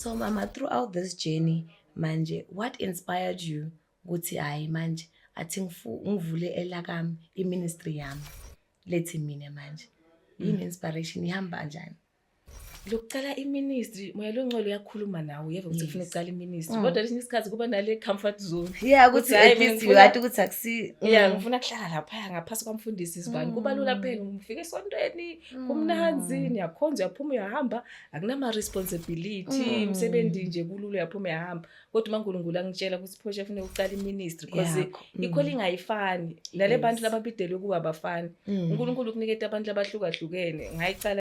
So mama throughout this journey manje what inspired you ukuthi hayi manje athi ngivule elakami iministry yami lethi mina manje yini inspiration ihamba njani lokucala iministry moya longcolo uyakhuluma nawe uyeva ukuthi ufuna ucala iministry mm. kodwa lesinye isikhathi kuba nale comfort zone yeah ukuthi ngathi ukuthi akusi yeah mm. ngifuna kuhlala lapha ngaphasi kwamfundisi sibani kuba lula mm. phela ngifika esontweni kumnanzi niyakhonza uyaphuma uyahamba akunama-responsibility mm. umsebenzi mm. nje kulula uyaphuma yahamba kodwa umankulunkulu angitshela ukuthi phosha afune ukuqala iministry because yeah. Mm. ikhole ingayifani nale yes. bantu lababidelwe kuba abafani mm. unkulunkulu ukuniketa abantu labahlukahlukene ngayicala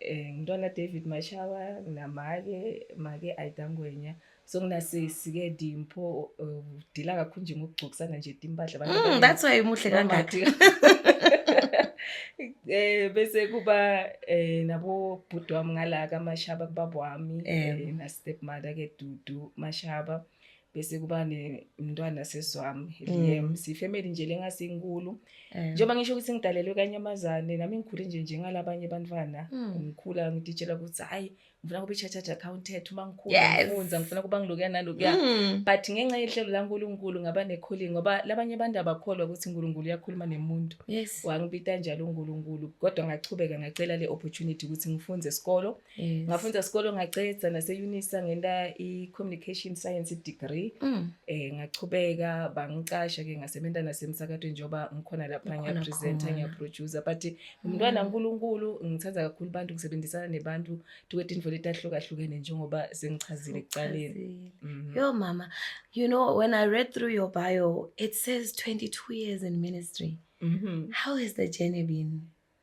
eh ngintwana David Mashawa nginamake make Aida Ngwenya so nginasisi ke Dimpho udila kakhulu nje ngokugcokisana nje timpahla abantu mm, that's why umuhle kangaka eh bese kuba eh nabo bhuti wami ngala ka Mashaba kubaba wami eh na stepmother ke Dudu Mashaba bese kuba nemntwana seswami Liam mm. sifamily nje lengasinkulu eh. njengoba ngisho ukuthi ngidalelwe kanyamazane nami ngikhule nje njengalabanye abantwana mm. ngikhula ngiditshela ukuthi hayi ngifuna kube chartered accountant uma ngikhula ngifunza ngifuna kuba ngilokuya nalokuya mm. but ngenxa yehlelo laNkulunkulu ngaba necalling ngoba labanye abantu abakholwa ukuthi uNkulunkulu uyakhuluma nemuntu wangibita njalo uNkulunkulu kodwa ngachubeka ngacela le opportunity ukuthi ngifunze esikolo Yes. Ngafunda isikole ngaceda nase Unisa ngenta i communication science degree. Mm. Eh ngachubeka bangicasha ke ngasebenza nasemsakatweni njoba ngikhona lapha ngiya presenter ngiya producer but mm. umntwana uNkulunkulu ngithanda kakhulu abantu ngisebenzisana nebantu tukwethe indvo letahlukahlukene njengoba sengichazile ekuqaleni. Mm. Yo mama, you know when I read through your bio it says 22 years in ministry. Mm -hmm. How has the journey been?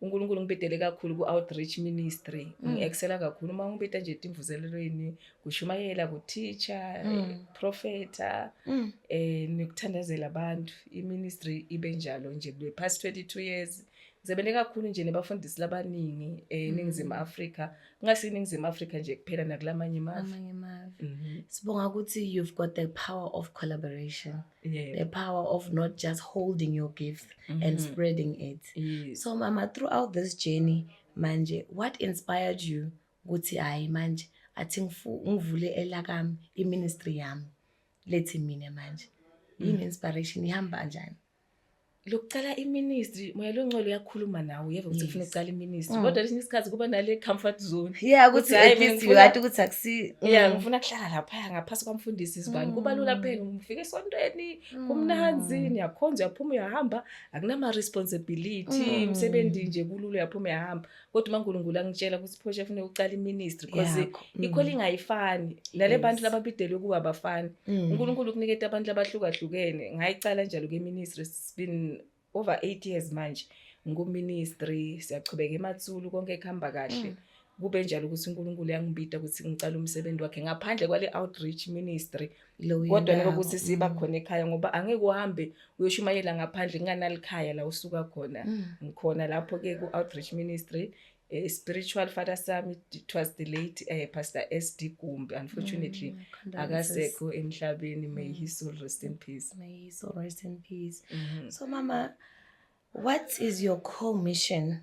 uNkulunkulu ngibhedele kakhulu ku-outreach ministry mm. ngi-excela kakhulu uma ngibheda nje etimvuzelelweni kushumayela kuteacha mm. Eh, profeta mm. eh nikuthandazela abantu iministry ibe njalo nje kule past 22 years ngisebenze kakhulu nje nebafundisi labaningi eh, eningizimu Afrika ngase iningizimu Afrika nje kuphela nakulamanye amazwe amanye amazwe mhm. sibonga ukuthi you've got the power of collaboration Yeah. the power of not just holding your gift mm -hmm. and mm-hmm. spreading it yes. so mama throughout this journey manje what inspired you ukuthi hayi manje athi ngivule elakami iministry yami lethi mina manje yini mm. inspiration ihamba kanjani lokucala iministry moya longcwele uyakhuluma nawe uyeva ukuthi kufuna ucala iministry mm. kodwa lesinye isikhathi kuba nale comfort zone yeah ukuthi at least you had ukuthi akusi yeah mm. ngifuna kuhlala lapha ngaphasi kwamfundisi izibani kuba lula mm. phela ngifike esontweni kumnanzi niyakhonza uyaphuma uyahamba akunama responsibility umsebenzi nje kulula uyaphuma uyahamba kodwa umaNkulunkulu angitshela ukuthi phosha kufuneka uqala iministry because mm. ikhole ingayifani nale bantu lababidelwe kuba abafani mm. uNkulunkulu ukuniketa abantu labahlukahlukene ngayicala njalo ke ministry it's been over 8 years manje ngikuministry siyachubeka emathulu konke kuhamba kahle mm. kube njalo ukuthi uNkulunkulu yangibita ukuthi ngicala umsebenzi wakhe ngaphandle kwale outreach ministry kodwa nike ukuthi siba mm. khona ekhaya ngoba angeke uhambe uyoshumayela ngaphandle kunganalikhaya la usuka khona mm. ngikhona lapho ke ku outreach ministry eh, spiritual father sami it was the late uh, pastor SD Gumbi unfortunately mm, akasekho emhlabeni may mm. his soul rest in peace may his soul rest in peace mm -hmm. so mama what is your core mission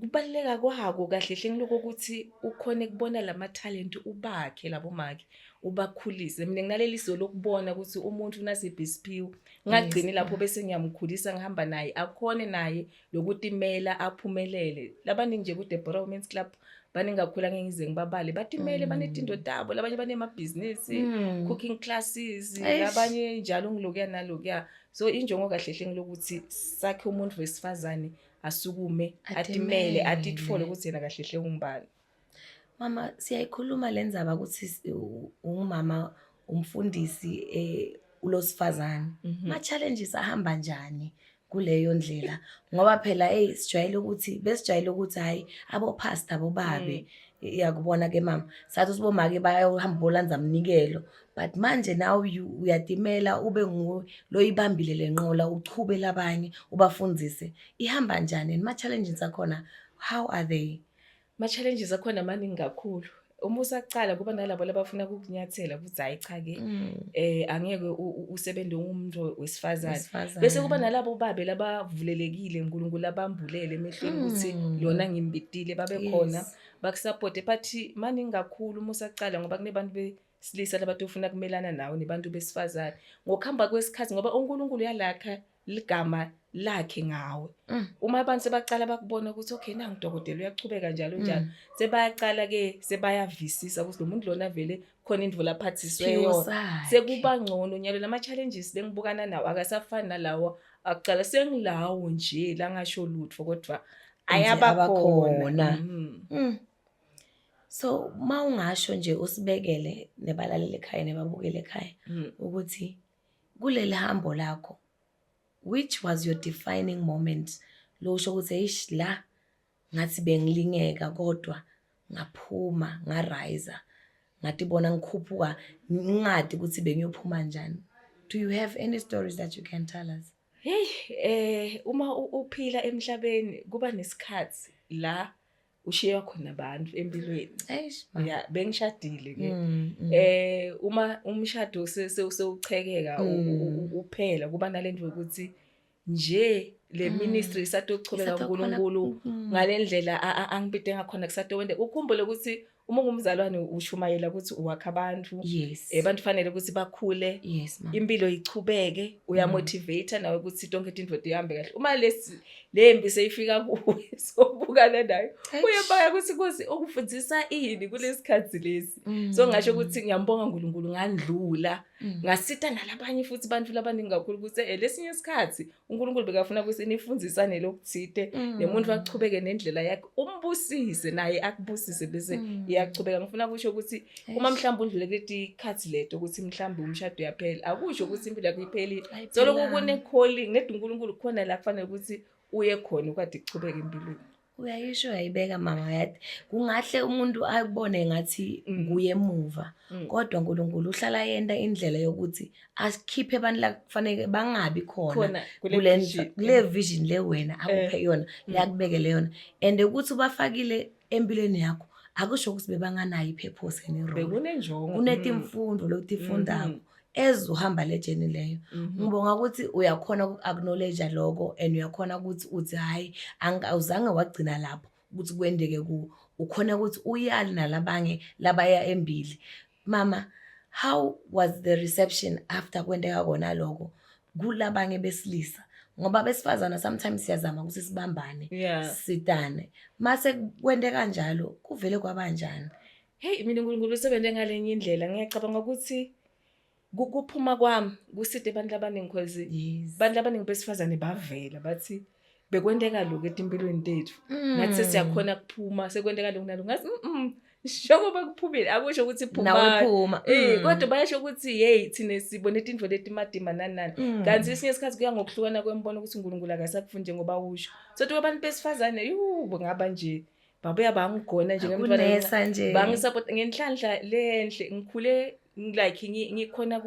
Kubaluleka kwako kahle hle ngiloko ukuthi ukhone kubona lamathalente ubakhe labo make ubakhulise mina nginaleli so lokubona ukuthi umuntu unasiphi isiphiwo ngagcini lapho bese ngiyamkhulisa ngihamba naye akhone naye lokutimela aphumelele labaningi nje kuDeborah Women's Club baningakhula ngeke ngize ngibabale batimele mm. banetinto tabo labanye banemabhizinisi mm. cooking classes labanye njalo ngilokuya nalokuya so injongo kahle hle ngilokuthi sakhe umuntu wesifazane asukume atimele atithole ukuthi yena kahle hle ungubani mama siyayikhuluma le ndzaba ukuthi ungumama umfundisi um ulosifazane mhm. ma-challenges ahamba njani kuleyo ndlela ngoba phela eyi sijwayele ukuthi besijwayele ukuthi hhayi abophasta bobabe mm. yakubona ke mama sathi usibomake bayohamba bolandza mnikelo but manje nawe uyatimela ube nguwe loyibambile le nqola uchubele abanye ubafundise ihamba njani and ma-challenges akhona how are they ma-challenges akhona maningi kakhulu uma usaqala kuba nalabo labafuna kukunyathela ukuthi hayi cha-ke um angeke usebenze umuntu wesifazane bese kuba nalabo babe labavulelekile nkulunkulu abambulele emehlweni mm. ukuthi lona ngimbidile babe khona bakusapote but maningi kakhulu uma usaqala ngoba kunebantu silisa labantu ufuna kumelana nawo nebantu besifazane ngokuhamba kwesikhathi ngoba uNkulunkulu yalakha ligama lakhe ngawe mm. uma abantu sebaqala bakubona ukuthi okay nangu dokotela uyachubeka njalo mm. njalo sebaqala ke sebayavisisa ukuthi lo muntu lona vele khona indvu laphathiswe yona sekuba ngcono nyalo lama challenges bengibukana nawo akasafani nalawo akuqala sengilawo nje langasho lutho kodwa ayabakhona mm. so uma ungasho nje usibekele nebalaleli ekhaya nebabukele ekhaya mm. ukuthi kuleli hambo lakho which was your defining moment lo usho ukuthi eish la ngathi bengilingeka kodwa ngaphuma ngarayza ngathi bona ngikhuphuka ngingadi ukuthi bengiyophuma njani do you have any stories that you can tell us hey eh uma uphila emhlabeni kuba nesikhathi la ushiywa khona abantu empilweni ya bengishadile ke mm, mm. eh uma umshado sewuchekeka mm. uphela kuba nalento yokuthi nje le mm. ministry mm. isatochobeka uNkulunkulu mm. ngalendlela angibide ngakhona kusatowende ukhumbule ukuthi uma ungumzalwane ushumayela ukuthi uwakha abantu yes. eh bantu fanele ukuthi bakhule yes, impilo ichubeke uyamotivate mm. nawe ukuthi tonke into ihambe kahle uma lesi le mpi seyifika kuwe sobukana nayo kuye baya ukuthi kosi ukufundisa ini kulesikhathi lesi mm. so ngasho ukuthi ngiyambonga uNkulunkulu ngandlula mm. ngasita nalabanye futhi abantu labaningi kakhulu ukuthi eh lesinye isikhathi uNkulunkulu bekafuna ukuthi nifundisane lokuthite mm. nemuntu wachubeke nendlela yakhe umbusise naye akubusise bese iyachubeka ngifuna kusho ukuthi uma mhlawumbe undlule kuleti khathi leto ukuthi mhlawumbe umshado uyaphela akusho ukuthi impilo yakho iphelile soloko kune-calling nedi unkulunkulu khona la kufanele ukuthi uye khona ukade kuchubeke empilweni uyayisho uyayibeka mama yathi kungahle umuntu akubone ngathi mm. nguye emuva mm. kodwa uNkulunkulu uhlala yenta indlela yokuthi asikhiphe abantu la kufanele bangabi khona kule kule vision le wena akuphe eh. yona mm. yakubekele yona and ukuthi ubafakile empilweni yakho akusho ukuthi bebanganayo i-purpose and i-role. Bekunenjongo. Mm. Kunetimfundo lokutifundako Mhm. ezuhamba le journey leyo. Mhm. Ngibonga ukuthi uyakhona uku-acknowledge lokho and uyakhona ukuthi uthi hhayi angi- awuzange wagcina lapho ukuthi kwendeke kuwo. Ukhona ukuthi uyale nalabanye labaya embili. mama how was the reception after kwenteka kona lokho kulabanye besilisa ngoba besifazana sometimes siyazama ukuthi sibambane yeah. sidane mase kwente kanjalo kuvele kwabanjani heyi mina unkulunkulu usebenze ngalenye indlela ngiyacabanga ukuthi kuphuma kwami kuside abantu abaningi cause abantu abaningi besifazane bavela bathi bekwenteka lokhu etimpilweni tethu mm. nathi sesiyakhona kuphuma sekwenteka lokhu nalokhu ngathi njengoba kuphumile akusho ukuthi phumauphuma eh, mm. kodwa bayasho ukuthi yeyi thina sibone tintfo letimadima nanani mm. kanti esinye isikhathi kuya ngokuhlukana kwembona ukuthi unkulunkulu akasakufundi njengoba usho sothi kwabantu besifazane yubo ngaba nje babuya bangigona nje ngemntwanesa nje bangisapota ngenhlanhla lenhle ngikhule like ngikhona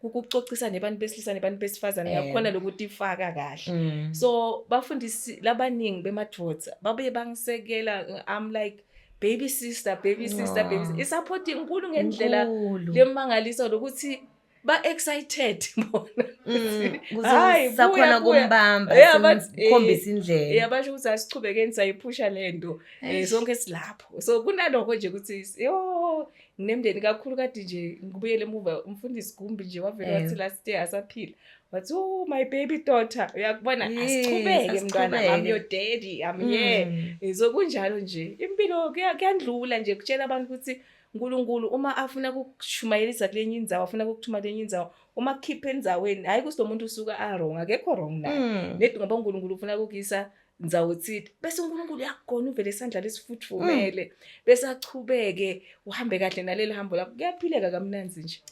ukucocisa nebantu besilisa nebantu besifazane eh. ngakhona lokuthi ifaka kahle mm. so bafundisi labaningi bemadoda babuye bangisekela i'm like baby sister baby sister baby i-support inkulu ngendlela lemangaliso lokuthi ba excited bona mm, hayi sakhona kumbamba sikhombisa indlela yabasho ukuthi asichubekeni sayiphusha lento eh, sonke silapho so kunaloko nje ukuthi yo nginemndeni kakhulu kade nje ngibuyele emuva umfundisi Gumbi nje wavele wathi eh. last year asaphila wathi oh my baby daughter uyakubona asichubeke mntwana i'm your daddy i'm here mm. eh, so kunjalo nje impilo kuyandlula nje kutshela abantu ukuthi uNkulunkulu uma afuna kukushumayelisa kule nye indzawo afuna kukuthuma kule nye indzawo uma kukhipha endzaweni hhayi ukuthi lo muntu usuka arong akekho wrong naye mm. nedi ngoba uNkulunkulu ufuna kukuyisa ndzawo thile bese uNkulunkulu uyakugona uvele isandla lesifudvumele mm. bese achubeke uhambe kahle naleli hambo lakho kuyaphileka kamnanzi nje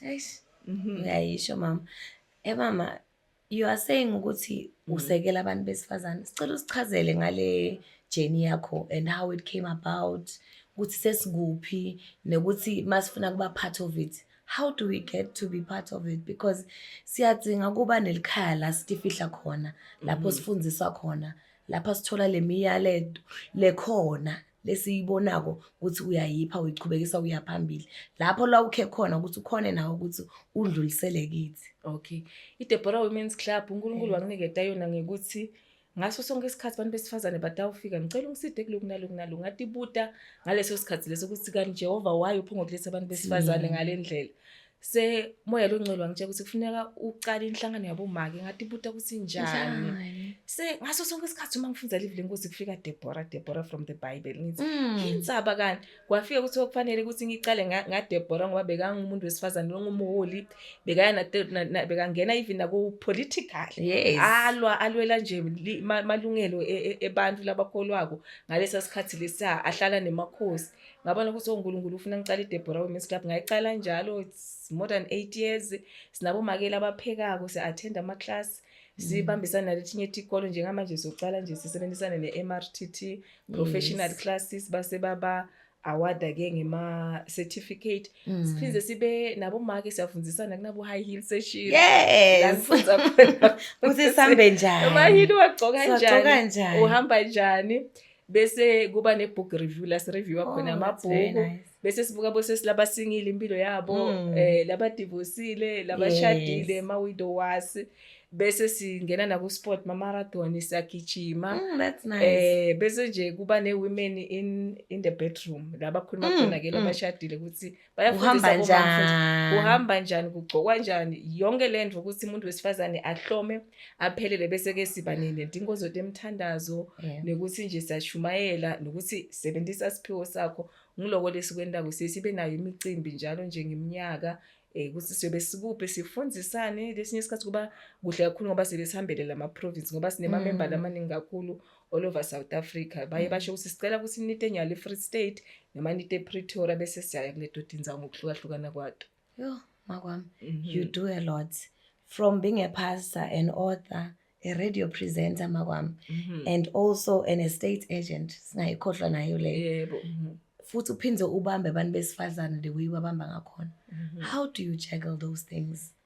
mhm. uyayisho mama e mama You are saying ukuthi mm. usekela abantu besifazane. Sicela usichazele ngale journey yakho and how it came about ukuthi sesikuphi nokuthi masifuna kuba part of it. How do we get to be part of it because siyadinga kuba nelikhaya la sitifihla khona lapho mm-hmm. sifundiswa khona lapha sithola lemiyaleto lekhona lesiyibonako ukuthi uyayipha uyichubekisa uya phambili lapho la ukhe khona ukuthi ukhone nawe ukuthi udlulisele kithi okay idebora women's club unkulunkulu eh. wanginiketa yona ngekuthi ngaso sonke isikhathi abantu besifazane batawufika ngicela ungiside kuloku naloku naloku ngatibuta ngaleso sikhathi leso ukuthi kanti jehova wayo uphongokuletha abantu besifazane ngale ndlela se moya longcwele wangitshela ukuthi kufuneka uqale inhlangano yabomake ngathi buta ukuthi njani se ngaso sonke isikhathi uma ngifunda live lenkosi kufika Deborah Deborah from the bible ngithi mm. insaba kani kwafika ukuthi okufanele ukuthi ngiqale nga Deborah ngoba bekangumuntu wesifazane longumuholi bekayana bekangena even nako political yes. alwa alwela nje malungelo e, e, ebantu labakholwako ngalesa sikhathi lesa ahlala nemakhosi ngabona ukuthi onkulunkulu oh, ufuna ngicala idebora women's club ngayicala njalo it's more than eight years sinabomakeli abaphekako si-attend ama-class mm. sibambisane naletinye itikolo njengamanje siyocala nje sisebenzisane ne-m r t t professional yes. classes base baba awada ke ngema certificate mm. siphinde sibe nabo make siyafundisana kunabo high heel session yes uthi sambe njani ama heel wagcoka njani uhamba njani bese kuba ne-book review la sireviewa oh, khona amabhuku bese sibuka bosesi labasingile impilo yabo um labadivosile labashadile yes. ma-widow wasi bese singena naku-sport mamarathon siyagijima mm, that's nice. eh bese nje kuba ne-women in, in the bedroom la bakhuluma mm, khona-ke mm. labashadile ukuthi uhamba njani uhamba njani kugcokwa njani yonke le nto ukuthi umuntu wesifazane ahlome aphelele bese-ke siba nedingo zoto emthandazo yeah. nekuthi nje siyashumayela nokuthi sebenzisa siphiwo sakho ngiloko lesikwentako siye sibe nayo imicimbi njalo nje ngeminyaka eh ukuthi siyobe sikuphi sifundisane lesinye isikhathi kuba kuhle kakhulu ngoba sebe sihambele lama province ngoba sinemamember mm. lamaningi kakhulu all over south africa baye mm. basho ukuthi sicela ukuthi nite nyalo i-free state noma nite pretoria bese siyaya kule dodinzawo ngokuhlukahlukana kwato yho makwami mhm. you do a lot from being a pastor an author a radio presenter makwami mm -hmm. and also an estate agent singayikhohlwa nayo leyo yebo mm -hmm. futhi uphinde ubambe abantu besifazane the way babamba ngakhona mm -hmm. how do you juggle those things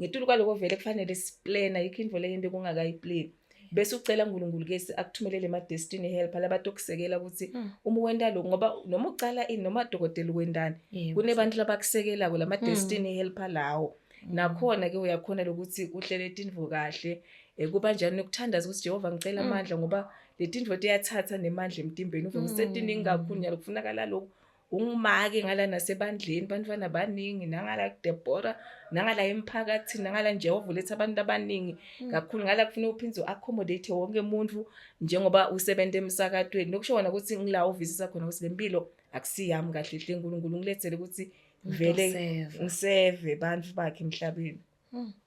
ngetulu kwaloko vele kufanele siplena yikho into leyo into kungakayipleni bese ucela uNkulunkulu ke akuthumelele ama destiny help labantu okusekela ukuthi hmm. uma wenda lokho ngoba noma ucala ini noma dokotela wendani kunebantu labakusekelako lama hmm. destiny help lawo hmm. nakhona ke uyakhona lokuthi uhlele tinvo kahle eh, kuba njani ukuthandaza ukuthi Jehova ngicela amandla ngoba letinvo tiyathatha nemandla emtimbeni uvume setiningi kakhulu nyalo kufunakala lokho ungumake ngala nasebandleni bantwana baningi nangala kudebora nangala emphakathini nangala nje ovuletha abantu abaningi mm. kakhulu ngala kufuna uphinde u-accommodate wonke umuntu njengoba usebenza emsakatweni lokusho kona ukuthi ngila ovisisa khona ukuthi le mpilo akusiyami kahle hle nkulunkulu ngilethele ukuthi vele ngiseve bantu bakhe emhlabeni mm.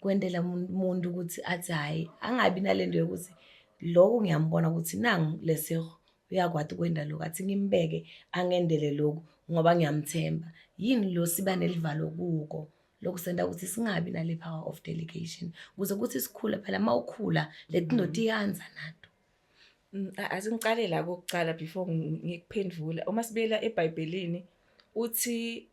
kwentela umuntu ukuthi athi hhayi angabi nale nto yokuthi loku ngiyambona ukuthi nangu leseho uyakwati ukwenda loku athi ngimbeke angendele loku ngoba ngiyamthemba yini lo siba nelivalo kuko lokhu senda ukuthi singabi nale power of delegation kuze kuthi sikhule phela uma ukhula letindoda mm. iyanza nato mm, asingiqale la kokuqala before ngikuphendvula uma sibuyela ebhayibhelini uthi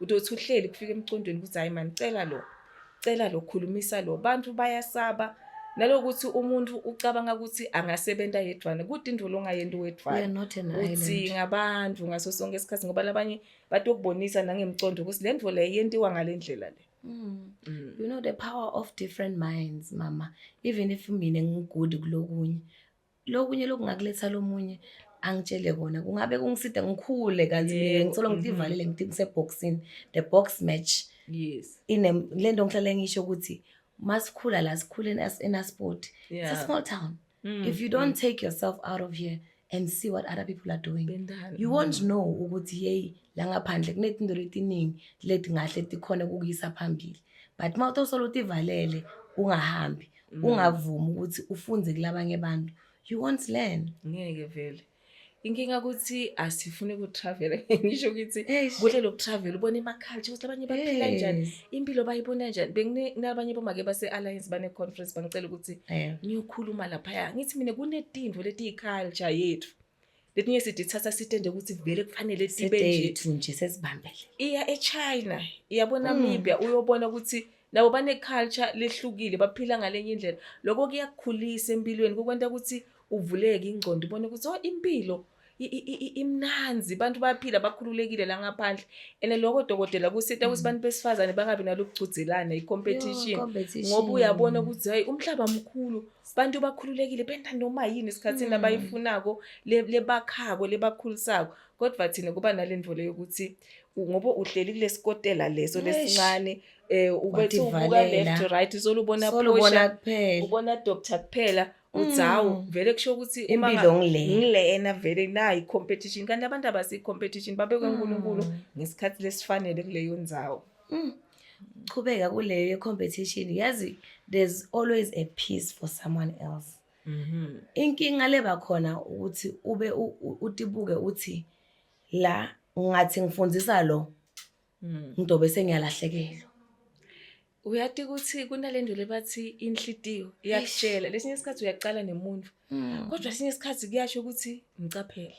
udothi uhleli kufika emcondweni ukuthi hayi mani cela lo cela lo khulumisa lo bantu bayasaba nalokuthi umuntu ucabanga ukuthi angasebenza yedwana kude indolo ongayenti wedwana uthi ngabantu ngaso sonke isikhathi ngoba labanye batokubonisa nangemcondo ukuthi le ndvo le yentiwa ngale ndlela le Mm. Mm. You know the power of different minds mama even if mina ngigudi kulokunye lokunye lokungakuletha lomunye angitshele kona kungabe kungisida ngikhule kanti mina ngithola ngithi mm-hmm. ivalile ngithi ngiseboxini the box match yes ine le nto ngihlale ngisho ukuthi masikhula la sikhule in a sport yeah. it's a small town mm. if you don't mm. take yourself out of here and see what other people are doing Bendana. you won't mm. know ukuthi yeyi la ngaphandle kunezinto letiningi leti ngahle tikhona kukuyisa phambili but uma uthosolo tivalele ungahambi Mm. ungavumi ukuthi ufunde kulabanye abantu you won't learn ngeke vele inkinga ukuthi asifune ukutravela ngisho ukuthi kuhle lokutravel ubona emaculture ukuthi abanye baphila njani impilo bayibona njani benginabanye bomake base-alliance bane-conference bangicela ukuthi ngiyokhuluma laphaya ngithi mina kunetinto letiyi-culture yethu letinye sidithatha sitende ukuthi vele kufanele sibeethu nje sesibambele iya echina iyabo namibia mm. uyobona ukuthi nabo bane-culture lehlukile baphila ngalenye indlela lokho kuyakukhulisa empilweni kukwenta ukuthi uvuleke ingcondo ubone ukuthi o oh, impilo imnanzi abantu baphila bakhululekile la ngaphandle and lokho dokotela kusita ukuthi mm. abantu besifazane bangabi nalokugcudzelana i-competition ngoba uyabona ukuthi hayi umhlaba mkhulu abantu bakhululekile benta noma yini esikhathini hmm. abayifunako lebakhako lebakhulisako kodwa thina kuba nalendvo leyo ukuthi ngoba uhleli kulesikotela leso lesincane eh ubethi ubuka left right solubona solubona kuphela ubona doctor kuphela udzawo mm. vele kusho ukuthi uma ngilena vele nayi competition kanti abantu abasi competition babekwe uNkulunkulu mm. ngesikhathi lesifanele kuleyo ndzawo mm. chubeka kuleyo ye-competition yazi there's always a piece for someone else mm -hmm. inkinga leba khona ukuthi ube utibuke uthi la ngathi ngifundisa lo mm. ngidobe sengiyalahlekelwa uyati ukuthi kunalento lebathi inhlitiyo iyakutshela lesinye isikhathi uyaqala nemuntu mm. kodwa esinye isikhathi kuyasho ukuthi ngicaphele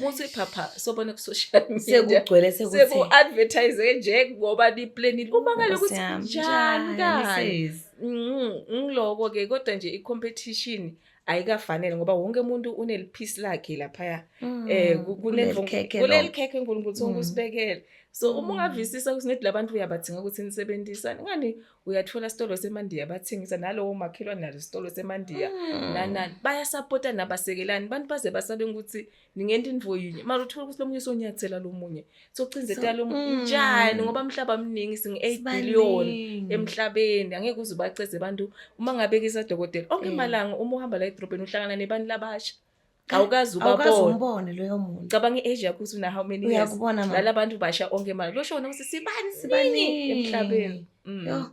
muthi phapha sobona ku social media sekugcwele sekuthi seku advertise nje ngoba ni planning uma ngale ukuthi njani kani mm, ngiloko ke kodwa nje i competition ayikafanele ngoba wonke umuntu uneliphisi lakhe laphaya mm, eh kunelikhekhe uNkulunkulu sonke mm. usibekele so uma ungavisisa ukuthi nedi labantu uyabathinga ukuthi nisebenzisane ngani uyathola sitolo semandiya bathengisa nalowo makhelwane nalo sitolo semandiya mm. nanani bayasapota nabasekelani abantu baze basabe ukuthi ningenta invo yinye mara uthola ukuthi lomunye sonyathela lomunye socinzeta lo mm. njani ngoba umhlaba omningi singu 8 billion emhlabeni angeke uze ubaceze abantu uma ngabekisa dokotela onke mm. malanga uma uhamba la edrobheni uhlangana nebantu labasha awukazi ubabone loyo muntu cabanga i-age yakho ukuthi una how many years lala abantu basha onke manje loshona ukuthi sibani sibani emhlabeni mm. yo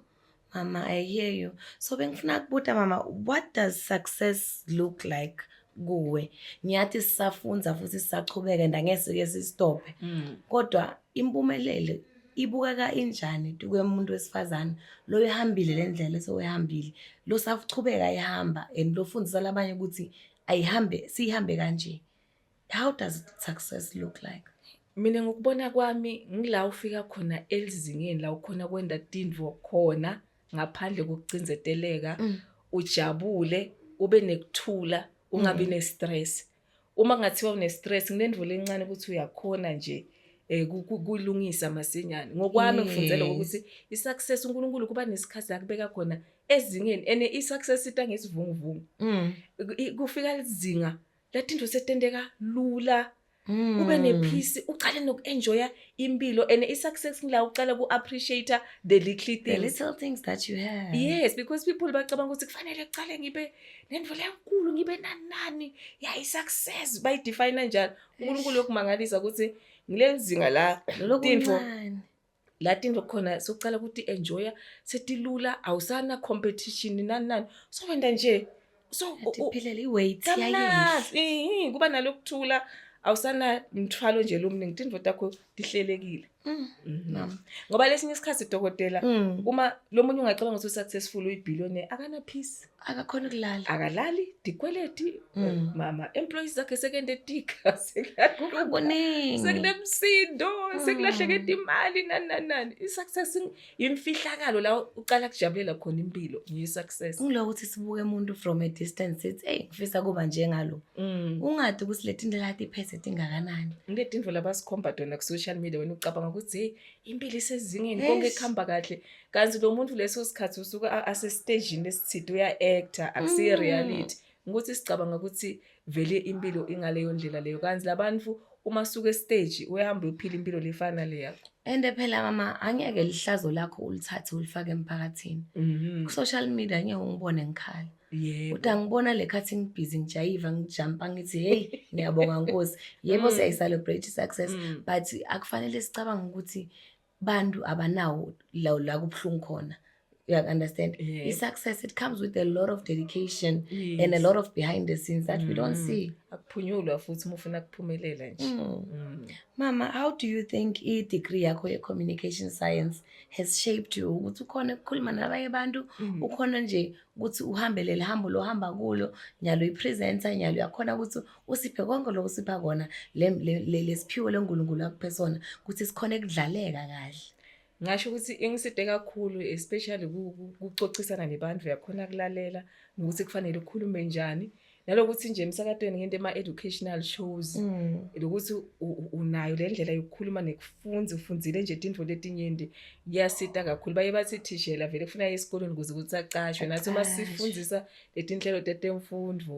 mama i hear you so bengifuna kubuta mama what does success look like kuwe ngiyathi sisafunza futhi sisachubeka and angeke sike sisitophe mm. kodwa impumelelo ibukeka injani tuke umuntu wesifazane lo ehambile lendlela esewehambile lo sachubeka ehamba and lofundisa labanye ukuthi ayihambe siyihambe kanje how does success look like mina ngokubona kwami ngila ufika khona elizingeni la ukhona kwenda tindvo khona ngaphandle kokucinzeteleka mm. ujabule ube nekuthula ungabi mm. ne-stress uma ngathiwa une-stress nginendvulo encane ukuthi uyakhona nje eh kulungisa masinyane ngokwami ngifundele ukuthi i-success uNkulunkulu kuba nesikhathi la kubeka khona ezingeni and i-success ita ngesivunguvungu mm. kufika lizinga lathi into setenteka lula mm. ube nephisi uqale noku-enjoya impilo and i-success ngila uqala ku-appreciate the little things. The little things that you have yes because people bacabanga ukuthi kufanele kuqale ngibe nendlela enkulu ngibe nanani ya i-success bayidefine njalo unkulunkulu yokumangalisa ukuthi ngile zinga la tinfo la tinto khona sokucala ukuthi enjoya setilula awusana competition nani nani so wenda nje so uphelele iweight yayinhle kuba nalokuthula awusana mthwalo nje lomningi tinto takho tihlelekile mm. mhm. ngoba lesinye isikhathi dokotela mm. uma lomunye ungacabanga ukuthi successful uyibillionaire akana peace akakhona ukulala akalali dikweleti mm. mama employees zakhe sekende tika sekukuningi sekunemsindo mm. sekulahleke imali nani nani nani i-success yimfihlakalo la uqala kujabulela khona impilo ngiyi-success ngiloko ukuthi sibuke umuntu from a distance sithi eyi ngifisa kuba njengalo mm. ungade ukuthi le tinto lati iphethe tingakanani le tinto labasikhomba tona ku-social media wena ucabanga ukuthi heyi impilo isezingeni konke kuhamba kahle kanti lo muntu leso sikhathi usuke asesitejini esithide uya-actor akusiye mm. reality ukuthi sicabanga ukuthi vele impilo ingaleyo ndlela leyo kanti labantu uma suke stage uyahamba uyophila impilo lefana le yakho and phela mama angeke lihlazo lakho ulithathe ulifake emphakathini mhm. ku social media ngeke ungibone ngikhala yebo uthi angibona le khathi ngibhizi ngijayiva ngijampa ngithi hey ngiyabonga nkosi yebo mm. siyayi celebrate success mm. but akufanele sicabanga ukuthi bantu abanawo la la kubuhlungu khona you understand yeah. i-success it comes with a lot of dedication yes. and a lot of behind the scenes that mm. we don't mm. see akuphunyulwa futhi uma ufuna kuphumelela nje mm. mm. mama how do you think i-degree yakho ye-communication science has shaped you ukuthi ukhona ukukhuluma nabanye abantu mm. ukhona nje ukuthi uhambelele hambo lohamba kulo nyalo i-presenter nyalo uyakhona ukuthi usiphe konke lokho sipha kona lesiphiwo lenkulunkulu akuphe sona ukuthi sikhona ekudlaleka kahle ngasho ukuthi ingiside kakhulu especially kucocisana nebantu uyakhona kulalela nokuthi kufanele ukhulume njani nalokuthi nje emsakatweni ngento ema-educational shows mm. lokuthi unayo le ndlela yokukhuluma nekufunza ufundzile nje tintfo letinyenti kuyasita kakhulu baye bathi thishela vele kufuna ye esikolweni ukuze ukuthi acashwe nathi uma sifundisa letinhlelo tetemfundvo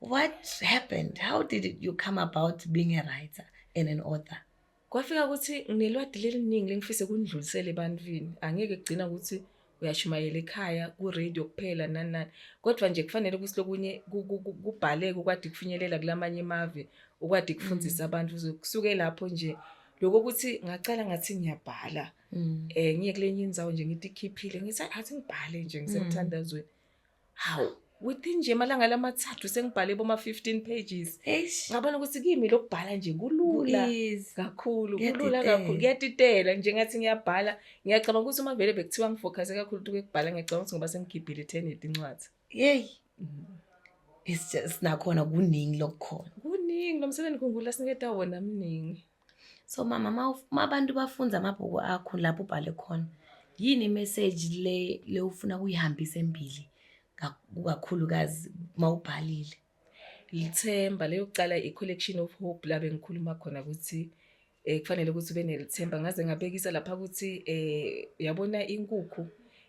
what happened how did it, you come about being a writer and an author kwafika ukuthi nginelwadi leliningi lengifise kundlulisele ebantwini angeke kugcina ukuthi uyashumayela ekhaya kuradio kuphela nani nani kodwa nje kufanele ukuthi lokunye kubhaleke ukwadi kufinyelela kulamanye imave ukwadi kufundisa mm. abantu kusuke lapho nje lokho ukuthi ngacala ngathi ngiyabhala um ngiye kule nye inzawo nje ngithi ikhiphile ngithi athi ngibhale nje ngisemthandazweni mm. hawu within nje amalanga lamathathu sengibhale boma 15 pages ngabona ukuthi kimi lokubhala nje kulula kakhulu kulula kakhulu kuyatitela nje ngathi ngiyabhala ngiyacabanga ukuthi uma vele bekuthiwa ngifocuse kakhulu ukuthi ukubhala ngiyacabanga ukuthi ngoba sengigibhile ethenedi incwadi yey it's just nakhona kuningi lokukhona kuningi lo msebenzi kungula siniketa wona mningi so mama uma abantu bafunza amabhuku akho lapho ubhale khona yini imeseji le le ufuna kuyihambisa embili kakhulukazi uma ubhalile lithemba leyokuqala i-collection of hope la bengikhuluma khona ukuthi um kufanele ukuthi ube nelithemba ngaze ngabekisa lapha ukuthi um yabona inkukhu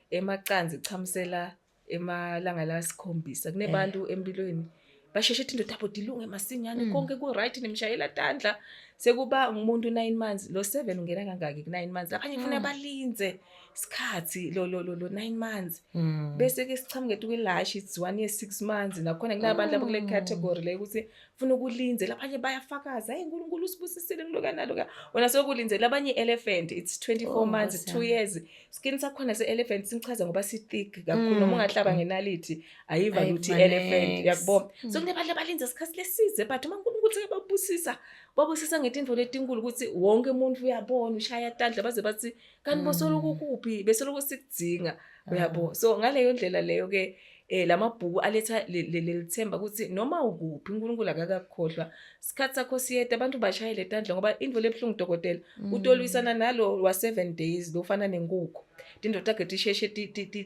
emacanzi ichamusela emalanga la sikhombisa kunebantu eh. empilweni basheshe ethi indoda bodi ilunge masinyane mm. konke ku-right nimshayela tandla sekuba ngumuntu nine months lo seven ungena kangaki ku-nine months labanye funa mm. balinze isikhathi lo lo lo lo nine months mm. bese-ke sichamuke etukelashi it's one year six months nakhona kunabantu abakule category le ukuthi funa ukulindela abanye bayafakaza hey uNkulunkulu usibusisile kuloka naloka wena sokulindela abanye elephant it's 24 oh, months 2 years skin sakhona se elephant simchaza ngoba si thick kakhulu noma mm. ungahlaba ngenalithi ayiva ukuthi elephant yakubona so mm. kunebantu abalinda isikhathi lesize but uma uNkulunkulu uthi babusisa babusisa ngetinto letinkulu ukuthi wonke umuntu uyabona ushaya tandla baze bathi kanti mm. bosoloko kuphi besoloko sikudinga ah. uyabo so ngaleyo ndlela leyo ke eh lamabhuku aletha lelithemba ukuthi noma ukuphi uNkulunkulu akakakhohlwa isikhathi sakho siyeda abantu bashayele tandla ngoba indvo lebhlungu dokotela mm. utolwisana nalo wa 7 days lofana nenkukhu tindoda ke tisheshe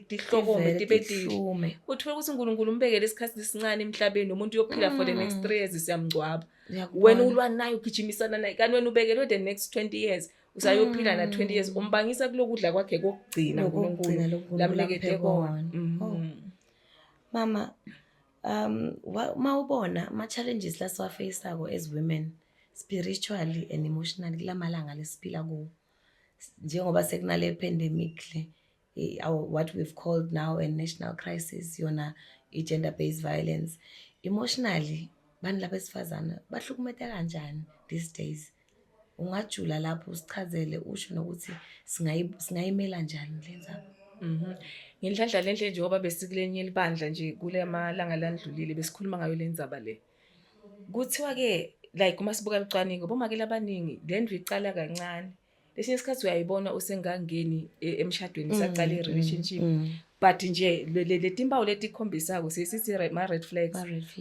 tihlokome tibe tihlume uthola ukuthi uNkulunkulu umbekele isikhathi lesincane emhlabeni umuntu uyophila for the next 3 mm. years siyamngcwaba wena ulwa naye ugijimisana naye kanti wena ubekelwe the next 20 years usayophila mm. na 20 years mm. umbangisa kulokudla kwakhe kokugcina uNkulunkulu lamlekete kona mm. oh. mama um mawubona ama challenges la siwafacako as women spiritually and emotionally kulamalanga lesiphila kuwo njengoba sekunale pandemic le our, what we've called now a national crisis yona i-gender based violence emotionally bani laba esifazane bahlukumeta kanjani these days ungajula lapho usichazele usho nokuthi singayimela njani le nzaba mhm. ngenhlanhla le nhle njengoba besikulenye elibandla nje kule malanga landlulile besikhuluma ngayo le nzaba le kuthiwa-ke like uma sibuka lucwaningo bomakela abaningi le ndlu icala kancane esinye isikhathi uyayibona usengangeni e, emshadweni mm, saqala mm, i-relationship mm. but nje le timpawu letikhombisako sesithi ma-red flags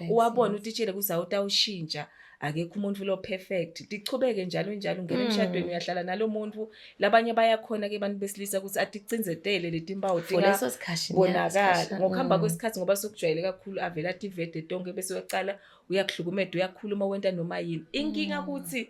uwabona utitshele ukuthi awutawushintsha akekho umuntu lo perfect tichubeke njalo njalo ngeke emshadweni mm. uyahlala nalomuntu labanye bayakhona ke abantu besilisa ukuthi aticinzetele letimpawu tingaso sikhathi bonakala ngokuhamba mm. kwesikhathi ngoba sokujwayele kakhulu avela tivede tonke bese uyaqala uyakhlukumeda uyakhuluma wenta noma yini inkinga mm. ukuthi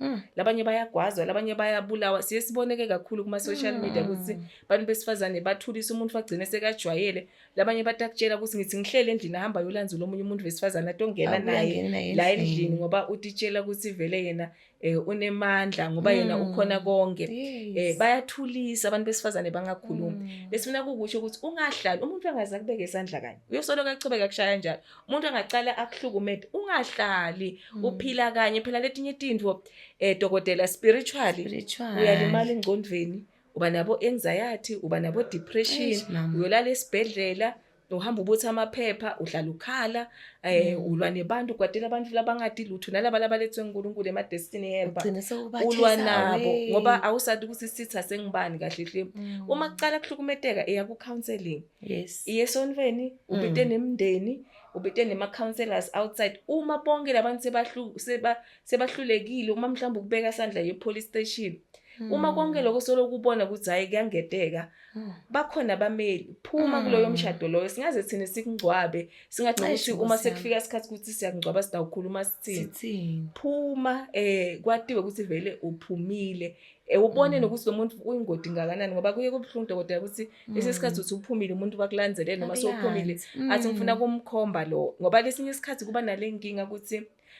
Mm. labanye bayagwazwa labanye bayabulawa siye siboneke kakhulu kuma-social mm. media ukuthi abantu besifazane bathulisa umuntu bagcine sekajwayele labanye batakutshela ukuthi ngithi ngihlele endlini ahamba yolanzula omunye umuntu wesifazane atongena naye la endlini ngoba utitshela ukuthi vele yena um unemandla ngoba yena mm. ukhona konke um bayathulisa abantu besifazane bangakhulumi lesifuna kukusho ukuthi ungahlali umuntu angaze akubeke isandla kanye uyosoloko achubeka kushaya njalo umuntu angacala akuhlukumede ungahlali mm. uphila kanye phela letinye tintfo eh dokotela spiritually uyalimala engcondweni uba nabo anxiety uba nabo depression uyolala esibhedlela uhamba ubuthi amaphepha uhlala ukhala eh mm. ulwa nebantu kwatela abantu labangadi lutho nalaba labalethwe uNkulunkulu ema destiny helper ulwa nabo ngoba awusadi ukuthi sitha sengibani kahle hle mm. uma kuqala kuhlukumeteka eya ku counseling yes iye esontweni ubite mm. nemndeni ubite nema counselors outside uma bonke labantu sebahlu seba sebahlulekile uma mhlawumbe ukubeka isandla ye police station mm. uma konke lokho solo kubona ukuthi hayi kuyangeteka mm. bakhona abameli phuma mm. kuloyo mshado loyo singaze thina sikungcwabe singathi ukuthi uma sekufika isikhathi ukuthi siyakungcwaba sidawukhuluma sithini phuma eh kwatiwe ukuthi vele uphumile Eh, ubone mm. nokuthi lo muntu uyingodi ngakanani ngoba kuye kubuhlungu dokotela ukuthi mm. lesi sikhathi uthi uphumile umuntu bakulandzele noma sewuphumile athi mm. ngifuna kumkhomba lo ngoba lesinye isikhathi kuba nale nkinga ukuthi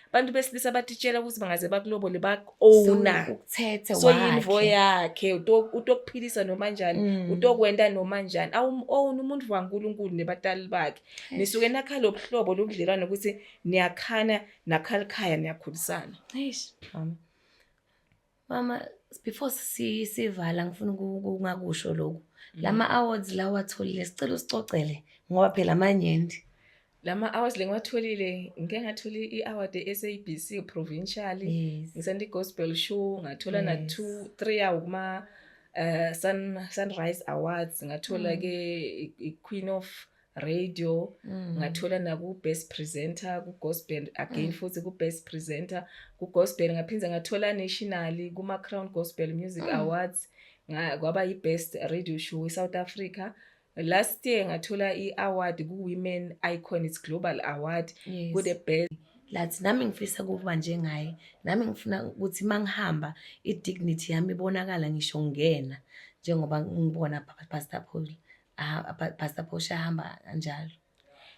abantu besilisa batitshela ukuthi bangaze bakulobole bak-owna so yinvo yakhe utokuphilisa noma njani mm. utokwenta noma njani awum-owna umuntu wankulunkulu nebatali bakhe nisuke nakha lo buhlobo lobudlelwane ukuthi niyakhana nakhalikhaya niyakhulisana Mama before sivala ngifuna ukungakusho lokhu. Mm. Lama awards la watholile sicela usicocele ngoba phela amanyenti. Lama awards lengiwatholile ngike ngathola i-award e-SABC provincial. Ngisanda i-gospel show ngathola na 2 3 yawo kuma uh, Sun Sunrise Awards ngathola mm. ke i-Queen of radio mm. ngathola naku best presenter ku gospel again mm. futhi ku best presenter ku gospel ngaphinde ngathola nationally kuma crown gospel music mm. awards nga kwaba i best radio show e South Africa last year ngathola i award ku women icon it's global award yes. ku the best lathi nami ngifisa kuba njengaye nami ngifuna ukuthi mangihamba i dignity yami ibonakala ngisho ngena njengoba ngibona pastor Paul Ah, pa- Pastor Portia hamba kanjalo.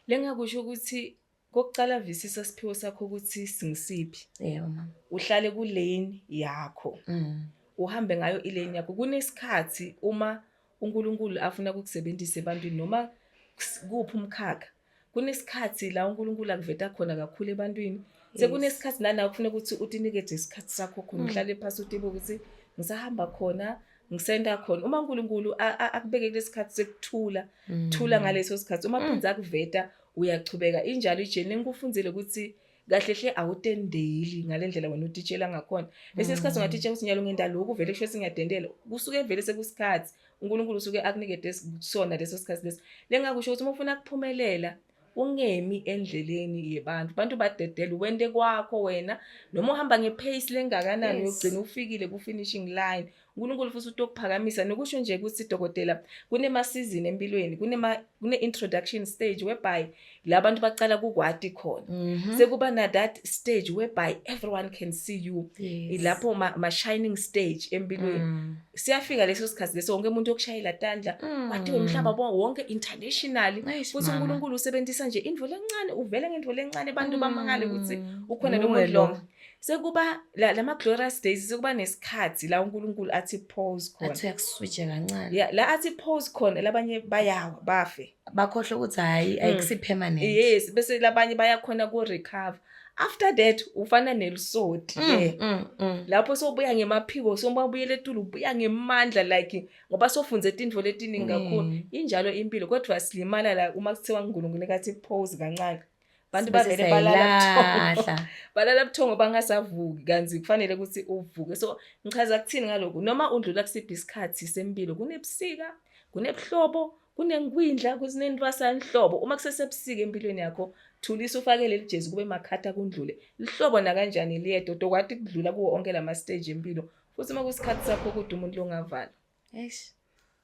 Lengakusho ukuthi kokuqala visisa siphiwo sakho ukuthi singisiphi. Yebo mama. Uhlale ku lane yakho. Mm. uhambe ngayo ilane yakho kunesikhathi uma uNkulunkulu afuna ukukusebenzisa ebantwini noma kus- kuphi umkhakha kunesikhathi la uNkulunkulu akuveta khona kakhulu ebantwini sekunesikhathi nana ufuna ukuthi utinikeje isikhathi sakho khona mm. uhlale phasi utibe ukuthi ngisahamba khona ngisenda khona uma uNkulunkulu akubeke kulesikhathi sekuthula mm. thula ngaleso sikhathi uma phinza mm. akuveta uyachubeka injalo ijeni ngikufundile ukuthi kahle hle awutendeli ngalendlela wena utitshela ngakhona bese isikhathi mm. ungatitsha ukuthi nyalo ngenda lokhu vele kusho singiyadendela kusuke vele sekusikhathi uNkulunkulu usuke akunikede sona leso sikhathi leso lengakusho ukuthi uma ufuna kuphumelela ungemi endleleni yebantu abantu badedela wente kwakho wena noma uhamba ngepace lengakanani uyogcina ufikile ku finishing line uNkulunkulu futhi uthi okuphakamisa nokusho nje ukuthi dokotela kunemasizini empilweni kunema kune-introduction stage whereby la bantu baqala kukwati khona mm -hmm. sekuba na that stage whereby everyone can see you yes. ilapho ma-shining ma stage empilweni mm. siyafika leso sikhathi leso wonke umuntu yokushayela tandla mm. wati wemhlaba bo wonke internationally futhi unkulunkulu usebenzisa nje indvo lencane uvele ngendvo lencane abantu mm. bamangale ukuthi ukhona lo muntu lonke sekuba la lama glorious days sekuba nesikhathi la uNkulunkulu athi pause khona athi uyakuswitche kancane yeah la athi pause khona labanye bayawa bafe bakhohle ukuthi hayi hmm. ayikusi permanent yes bese labanye bayakhona ku recover after that ufana nelisodi mm, ke mm, mm. lapho sobuya ngemaphiko sombabuyele etulu ubuya ngemandla like ngoba sofunze izinto letiningi kakhulu injalo impilo kodwa silimala la uma kuthiwa uNkulunkulu kathi pause kancane abantu bavele balalabuthongo balala buthongo bangasavuki kanti kufanele ukuthi uvuke so ngichaza kuthini ngaloku noma udlula kusiphi isikhathi sempilo kunebusika kunebuhlobo kunenkwindla kuzinentwasanhlobo uma kusesebusika empilweni yakho thulisa ufake leli jezi kube makhatha kundlule lihlobo nakanjani liyedwa tokwati kudlula kuwo onke lama stage empilo futhi uma kusikhathi sakho ukuthi umuntu longavala eish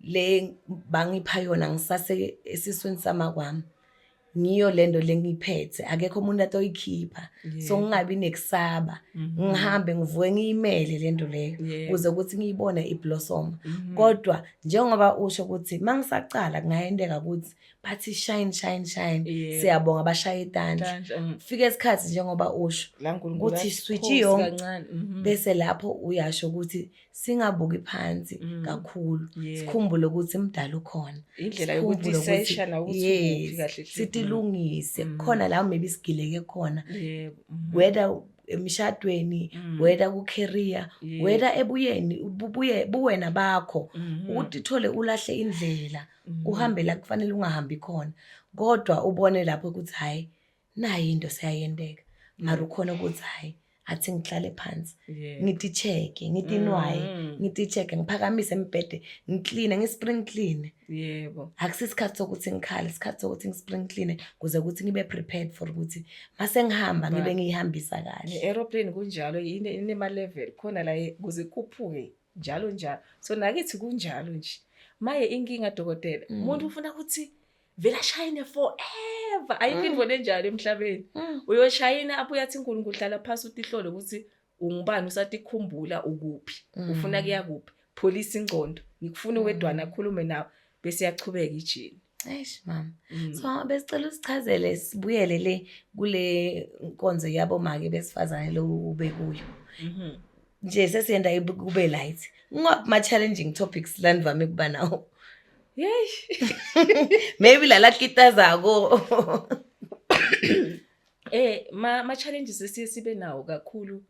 le bangipha yona ngisase esiswini sama kwami ngiyo lento lengiphethe akekho umuntu atoyikhipha so ngingabi nekusaba mhm. ngihambe ngivuke ngiyimele lento leyo kuze ukuthi ngiyibone iblossom mhm. kodwa njengoba usho ukuthi mangisaqala kungayendeka ukuthi bathi shine shine shine siyabonga bashaye itandla mm. fika isikhathi njengoba usho ukuthi switch yonke mhm. bese lapho uyasho ukuthi singabuki phansi mm. kakhulu yeah. sikhumbule ukuthi mdala ukhona indlela yokuthi sesha na ukuthi yes. kahle sitilungise mm. khona la maybe sigileke khona yeah. mm -hmm. whether emishadweni mm. whether ku career yeah. whether ebuyeni bubuye buwena bakho mm -hmm. ukuthi thole ulahle indlela mm -hmm. uhambe la kufanele ungahambi khona kodwa ubone lapho ukuthi hayi nayi into seyayenteka mara ukhona ukuthi hhayi athi ngihlale phansi Yeah. ngitisheke ngitinwaye Mm. ngitisheke ngiphakamise embhede ngikline ngispring clean Yebo. akusi isikhathi sokuthi ngikhale isikhathi sokuthi ngispring clean kuze ukuthi ngibe prepared for ukuthi uma sengihamba ngibe Right. ngiyihambisa kahle Ne-aeroplane kunjalo yini inema-level khona la ye- kuze kukhuphuke njalo njalo so nakithi kunjalo nje maye inkinga dokotela Mm. umuntu ufuna ukuthi vele ashayine forever ayikho into mm. enjalo emhlabeni mm. uyoshayina abuye athi uNkulunkulu hlala phansi utihlole ukuthi ungubani usatikhumbula ukuphi mm. ufuna kuya kuphi pholisa ingcondo ngikufuna wedwana akhulume nawe bese yachubeka ijini Eish mama. Mm. So besicela usichazele sibuyele le kule nkonzo yabo make besifazane lo ubekuyo. Mhm. Nje sesiyenda kube light. Ngoma challenging topics landivame kuba nawo. maybe lala kitazako eh ma ma challenges esiye sibe nawo kakhulu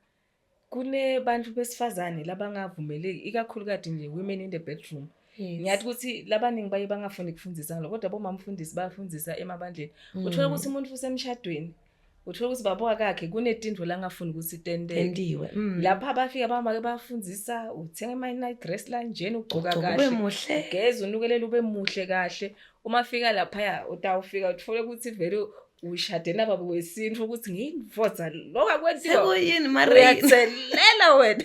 kunebantu besifazane labangavumeleki ikakhulu kade nje women in the bedroom ngiyathi ukuthi labaningi baye bangafuni kufundisa ngalo kodwa bomamfundisi bayafundisa emabandleni mm. uthola ukuthi umuntu usemshadweni uthola ukuthi baba wakakhe kunetindlu la ngafuni ukuthi tententiwe mm. lapha abafika bamake bafundisa uthenga ama-night dress lanjena ugcoka kahle muhle geza unukelela ube muhle kahle uma fika laphaya utawufika uthole ukuthi vele ushade nababa wesintu ukuthi ngiyinvoza lokho akwenziwauyathelela wena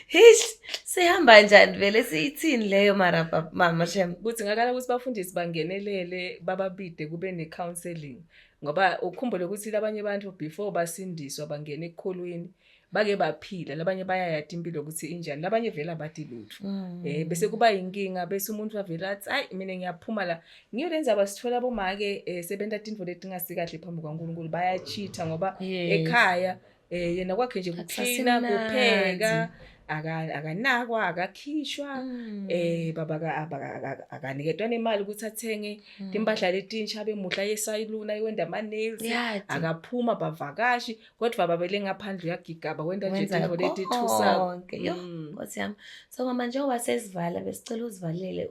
Hish, sihamba njani vele siyithini leyo mara pa- mama shem. Kudingakala ukuthi bafundisi bangenelele bababide kube ne-counseling ngoba ukhumbule ukuthi labanye abantu before basindiswa bangena ekukholweni bake baphila labanye bayayati impilo ukuthi injani labanye vele abati lutho Mm. Eh bese kuba inkinga bese umuntu avela athi ayi mina ngiyaphuma la ngiyo lenza abasithola bomake eh, sebenta tintfo letingasikahle phambi kwaNkulunkulu bayacheater ngoba Yes. ekhaya Eh yena kwakhe nje kucleaner, kupheka, akanakwa akakhishwa mm. eh baba akaniketwa nemali ukuthi athenge mm. impahla letintsha abe muhla yesayiluna iwenda ama nails akaphuma bavakashi kodwa baba bele ngaphandle uyagigaba wenda nje into leti thusa mm. nkosi yami so mama njengoba sesivala besicela uzivalele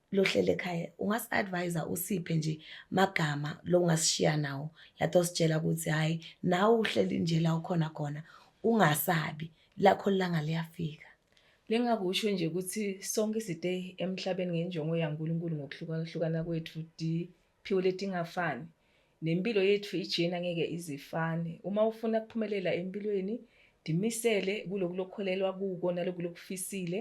lohlele ekhaya ungasi-advise-a usiphe nje magama lo ungasishiya nawo lathi ositshela ukuthi hhayi nawe uhleli nje la ukhona khona ungasabi lakho lilanga liyafika Lengakusho nje ukuthi sonke side emhlabeni ngenjongo yaNkulunkulu ngokuhlukahlukana kwethu diphiwo letingafani. Nempilo yethu ijena ngeke izifane. Uma ufuna kuphumelela empilweni, dimisele kuloku lokholelwa kuko naloku lokufisile.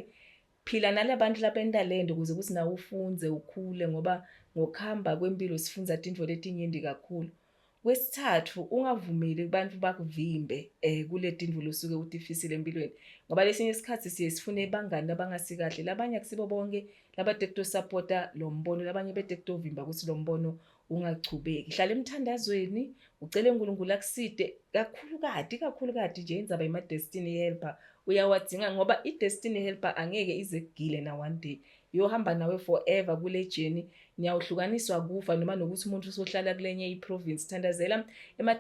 Phila nalabantu labentalente ukuze ukuthi nawe ufunze ukhule ngoba ngokuhamba kwempilo sifunza tinto letinyenti kakhulu. Kwesithathu ungavumeli kubantu bakuvimbe eh kule tinto losuke utifisile empilweni ngoba lesinye isikhathi siye sifune bangani abangasikahle labanye akusibo bonke labade kuto supporta lo mbono labanye bede kutovimba ukuthi lo mbono ungachubeki hlala emthandazweni ucele uNkulunkulu akuside kakhulu kade kakhulu kade nje indzaba yema destiny helper uyawadinga ngoba i destiny helper angeke ize kugile na one day yohamba nawe forever kule journey niyawuhlukaniswa kufa noma nokuthi umuntu usohlala kulenye iprovince thandazela ema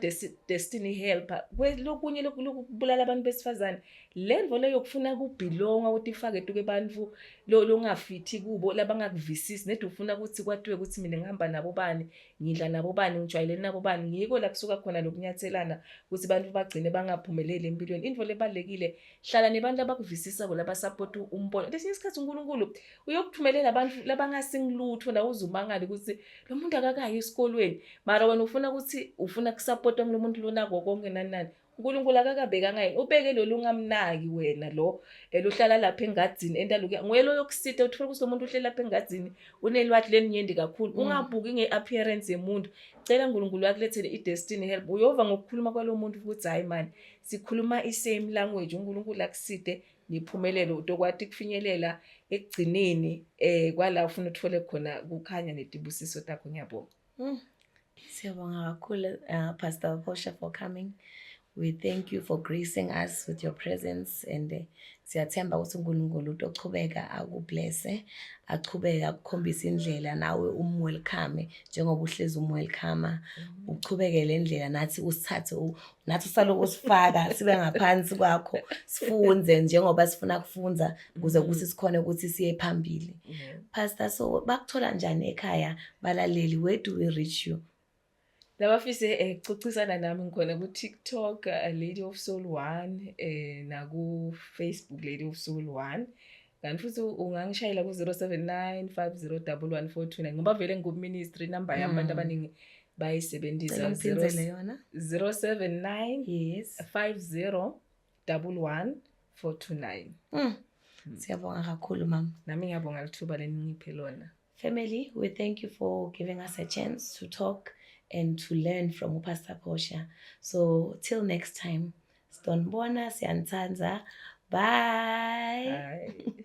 destiny helper kwelokunye lokubulala abantu besifazane le nto le yokufuna kubhilonga ukuthi ifake tuke abantu longafithi kubo labangakuvisisi nedi ufuna ukuthi kwatiwe ukuthi mina ngihamba nabo bani ngidla nabo bani ngijwayeleni nabo bani ngiko la kusuka khona lokunyathelana ukuthi abantu bagcine bangaphumeleli empilweni into lebalekile hlala nebantu abakuvisisa bona basupport umbono lesinye isikhathi uNkulunkulu uyokuthumelela abantu labangasingilutho la uzumangala ukuthi lo muntu akakayi esikolweni mara wena ufuna ukuthi ufuna kusupport umuntu lona konke nanani uNkulunkulu akakabekanga yini ubeke lolu ungamnaki wena lo eluhlala lapha engadini entaluke nguye lo yokusita uthola ukuthi lomuntu uhleli lapha engadini unelwathi leninyende kakhulu mm. ungabuki ngeappearance yemuntu cela uNkulunkulu akulethele idestiny help uyova ngokukhuluma kwalomuntu ukuthi hayi man sikhuluma isame language uNkulunkulu akuside niphumelele utokwati kufinyelela ekugcineni eh kwala ufuna uthole khona kukhanya netibusiso takho ngiyabonga Mm. Siyabonga kakhulu uh, Pastor Bosha for coming. We thank you for gracing us with your presence and uh, siyathemba ukuthi uNkulunkulu utochubeka akublesse achubeke akukhombise indlela nawe umwelcome njengoba uhlezi umwelcome uchubeke le ndlela nathi usithathe nathi saloku sifaka sibe ngaphansi kwakho sifunze njengoba sifuna kufunza kuze kuthi mm-hmm. sikhona ukuthi siye phambili mm-hmm. pastor so bakuthola njani ekhaya balaleli where do we reach you labafise eh, cocisana nami ngikhona ku-tiktok eh, lady of soul one eh, naku-facebook lady of soul one kanti futhi ungangishayela ku-079 5011 ngoba vele ngikuministry number yami abantu mm. abaningi bayisebenzisa 079 yes 50 double one four two nine mm. mm. siyabonga kakhulu mama nami ngiyabonga lithuba leningiphe lona family we thank you for giving us a chance to talk and to learn from upastor posha so till next time Sidonibona siyanithanda. Bye. Bye.